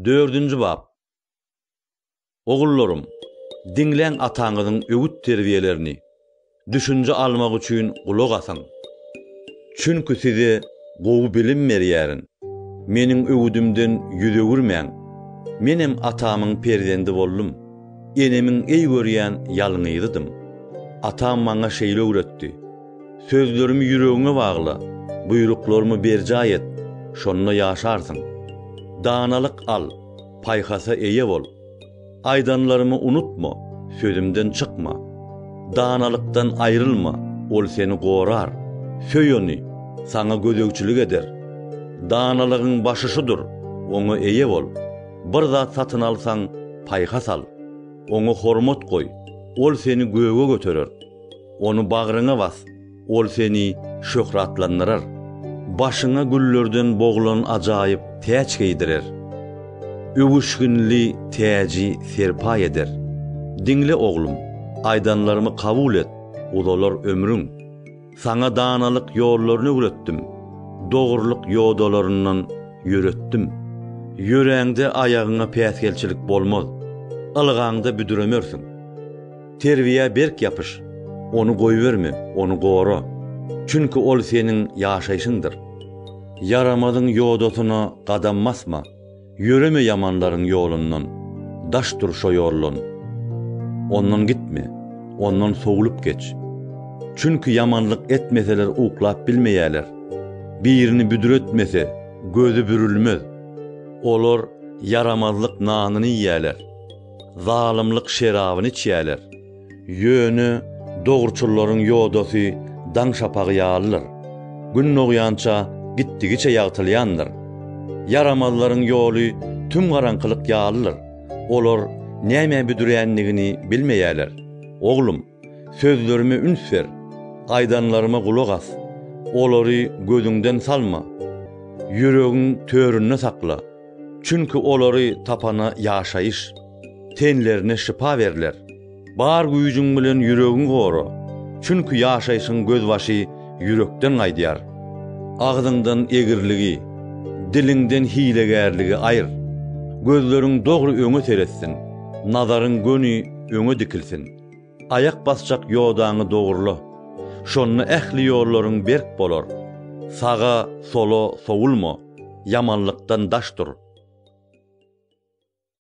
Dördünji bap. Ogullarym, diňläň ataňyzyň öwüt-terbiýelerini, düşünje almak üçin gulak asyň. Çünki size gowy bilim berýärin. Meniň öwüdimden ýüz öwürmäň. Menem atamyň perzendi boldum, enemiň eý görýän ýalňyzydym. Atam maňa şeýle öwretdi. Sözlerimi ýüregiňe bagla, buýruklarymy berjaý et, şonda ýaşarsyň. Danalyk al, paýhasa eýe bol. Aýdanlarymy unutma, sözümden çykma. Danalykdan aýrylma, ol seni gorar. Söý ony, saňa gözegçilik eder. Danalygyň başy şudur, oňa eýe bol. Bir zat satyn alsaň, paýhas al. Oňa hormat goý, ol seni göge göterer. Ony bagryňa bas, ol seni şöhratlandyrar, başyňa güllerden boglan ajaýyp täç geýdirer. Öwüşginli täji serpaý eder. Diňle, oglum, aýdanlarymy kabul et, uzalar ömrüň. Saňa danalyk ýollaryny öwretdim, dogrulyk ýodalaryndan ýöretdim. Ýöräňde aýagyňa päsgelçilik bolmaz, ylgaňda büdremersiň. Terbiýä berk ýapyş. Ony goýberme, ony gora. Çünki ol seniň ýaşaýşyňdyr. Ýaramazyň ýodasyna gadam basma, ýöreme ýamanlaryň ýolundan, daş dur şo ýoldan. Ondan gitme, ondan sowlup geç. Çünki ýamanlyk etmeseler uklap bilmeýärler, birini büdretmese, gözi bürülmez. Olar ýaramazlyk nanyny iýýärler. Zalymlyk şerabyny içýärler. Ýöne dogruçyllaryň ýodasy daň şapagy ýalydyr. Gün dogýança gitdigiçe ýagtylýandyr. Ýaramazlaryň ýoly tüm garaňkylyk ýalydyr. Olar nämä büdrändigini bilmeýärler. Oglum! Sözlerime üns ber, aýdanlaryma gulak as, olary gözüňden salma, ýüregiň töründe sakla, çünki olary tapana ýaşaýyş, tenlerine şypa berler. Bar güýjüň bilen ýüregiňi gora, çünki ýaşaýşyň gözbaşy ýürekden gaýdýar. Agzyňdan egriligi, diliňden hilegärligi aýyr. Gözleriň dogry öňe seretsin, nazaryň göni öňe dikilsin. Aýak basjak ýodaňy dogrula, şonda ähli ýollaryň berk bolar. Saga, sola sowulma, ýamanlykdan daş dur.